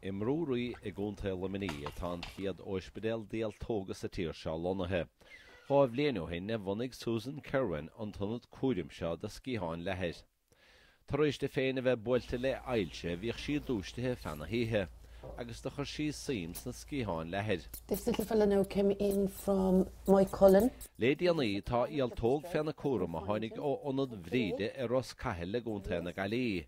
I mBrú Rí i gContae Luimnigh atá an chéad óispidéal d'ialtóga sa tír seo lonnaithe. Dhá bhliain ó shin a bhunaigh Susan Kerwin an t-ionad cúraim seo do sciatháin leathair. Tar éis di féin a bheith buailte le hailse bhíodh sí dúisithe feadh na hoíche agus do chuir sí suim sna sciatháin leathair. This little fella now came in from Moycullen. Le déanaí tá ialtóg féna cúram a tháinig ó Ionad Bhríde i Ros Cathail i gContae na Gaillimhe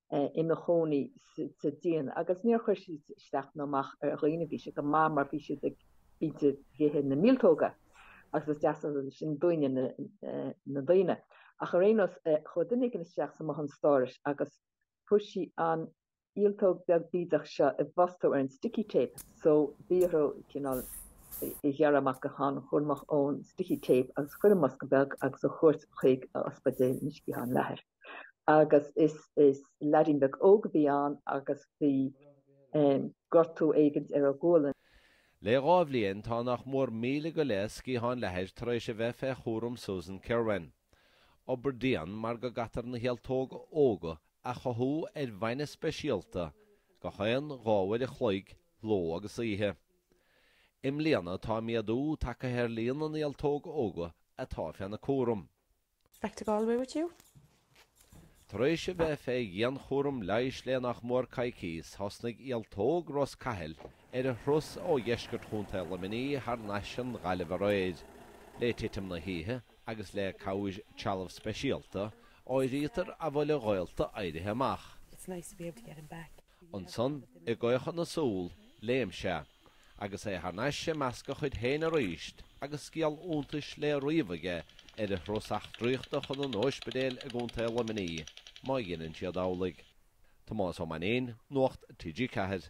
ina chónaí sa díon agus níor chuir siad isteach nó amach ar dhaoine. Bhí sé go maith mar bhí siad ag ithe na míoltóga agus is deas an rud é sin dúinne, na daoine. Ach ar aon nós, chuaigh duine éigin isteach sa mbothán stórais agus fuair sí an ialtóg beag bídeach seo i bhfostó ar an sticky tape so bhí orthu cineál í a ghearradh amach go han-chúramach ón sticky tape agus chur i mbosca beag agus a thabhairt chuig Ospidéal na Sciathán Leathair. agus is leaidín beag óg a bhí ann agus bhí gortú éigint ar a ghualainn. Le dhá bhliain tá nach mór míle go leith sciathán leathair tar éis a bheith fé chúram Susan Kerwin. Obair dhian mar go gcaitear na hialtóga óga a chothú ar bhainne speisialta gach aon dhá uair a chloig, ló agus oíche. I mbliana tá méadú tagtha ar líon na n-ialtóg óga atá féna cúram. It's back to Galway with you. Tar éis a bheith fé dhianchúram leighis le nach mór coicíos, thosnaigh ialtóg Ros Cathail ar a thuras ó dheisceart Chontae Luimnigh thar n-ais don Ghaillimh aréir. Le titim na hoíche agus le cabhair trealamh speisialta, áirítear an bhfuil a ghaolta éirithe amach. Ansan, i gcaochadh na súl, léim sé, agus é thar n-ais i measc a chuid féin arís agus scéal iontais le ríomh aige ar a thuras eachtraíochta chun an óispidéil i gContae Luimnigh, má dheineann siad amhlaidh. Tomás Ó Mainnín, Nuacht TG4.